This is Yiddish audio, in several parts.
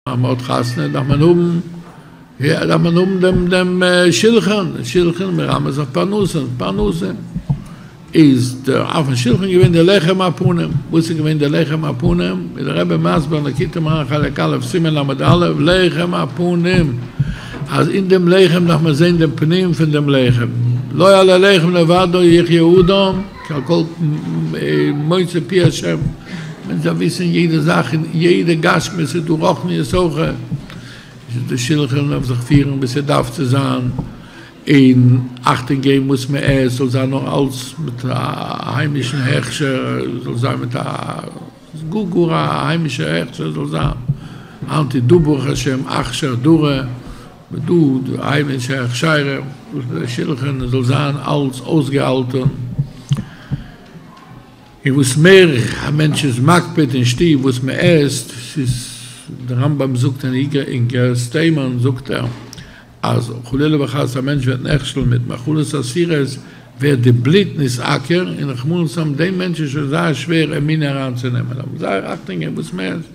אז מען האט חתונה דארף מען האבן דארף מען האבן דעם דעם שילחן, שילחן מרמז אויף פרנסה, פרנסה איז דער אויפן שילחן געווען די לחם הפנים, וואס איז געווען די לחם הפנים? איז דער רבי מסביר לקוטי מוהר ן חלק א' סימן ל' א, לחם הפנים אז אין דעם לחם דארף מען זען דעם פנים פון דעם לחם, לא על הלחם לבדו יחיה אדם, קל כל מוצא פי השם, מען דארף וויסען יעדע זאך אין יעדע גשמיות איז דא רוחניות אויך, עס איז דא שלחן מען דארף זיך פירען ווי עס דארף צו זיין, און אכטונג געבן וואס מען עסט זאל זיין נאר אלץ מיט א היימישען הכשר, זאל זיין מיט א גאר גאר א היימישער הכשר זאל זיין, אנטי דא ברוך השם אכשר דרא, ודו ד אייוועלט שייך שיירא דאס איז א שילכען עס זאל זיין אלץ אויסגעהאלטען און וואס מער א מענטש איז מקפיד אין שטוב וואס מען עסט ס'איז די רמב ם זאגט אין איגרת תימן זאגט ער אז חלילה וחס א מענטש וועט נכשל'ן מיט מאכלות אסירות ווערט די בלוט נשעקר און רחמנות האבן דעם מענטש איז שוין זייער שווער ער מינע אריין צו נעמען אבער זייער אכטונג אין וואס מען עסט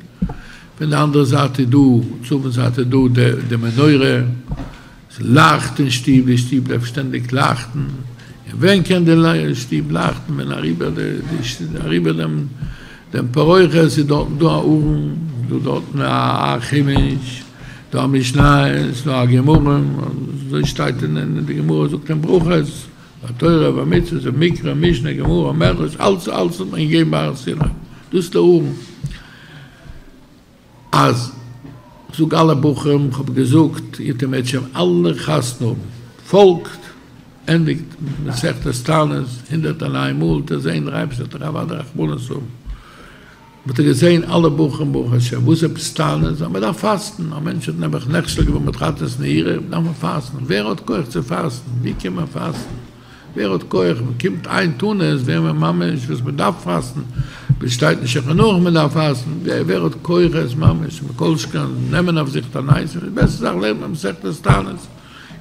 פון די אנדערע זייט איז דא, צפון זייט איז דא די מנורה, עס לייכט אין שטוב, די שטוב בלייבט שטענדיג לייכטן, און ווען קען די שטוב לייכטן, ווען אריבער די, אריבער דעם, דעם פרוכת, עס איז דארטן דא א ארון, עס איז דא דארטן א חומש, דא א משניות, דא א גמרא, אזוי שטייט אין די גמרא, זאגט אין ברכות, ביי תורה, ביי מצוות, אין מקרא, משנה, גמרא, מדרש, אלץ, אלץ האט מען געגעבן ביי הר סיני, דאס איז די ארון. אז זאג אלע בחורים כ'האב געזאגט איר מעגט שוין אלע חתונה האבן, פאלגט, ענדיגט מסכת תענית הונדערט און איין מאל, וועט איר זען דער אייבערשטער וועט אייך אוודאי רחמנות האבן, וועט איר געזען אלע בחורים ברוך השם, וואס עפעס טענות, אז מ'דארף פאסטן, א מענטש האט נעבעך נכשל געווען מיט חתונת נעירה, דארף מען פאסטן, ווער האט כח צו פאסטן, ווי קען מען פאסטן. ווער האט כח, מען קומט איין טונא עס ווער מען ממש וואס מען דארף פאסטן, ביז שטייט אין שולחן ערוך מען דארף פאסטן, ווער האט כח עס ממש מכל שכן נעמען אויף זיך תענית, די בעסטע זאך לערנט מען מסכת תענית, עס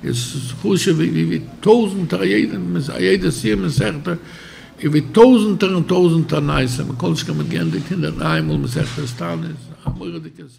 איז חשוב ווי ווי ווי טויזענטער א יעדע א יעדע סיום מסכת איז ווי טויזענטער און טויזענטער נייעס, מכל שכן מען גערנט די קינדער דריי מאל מסכת תענית, א מורא'דיגע זכות.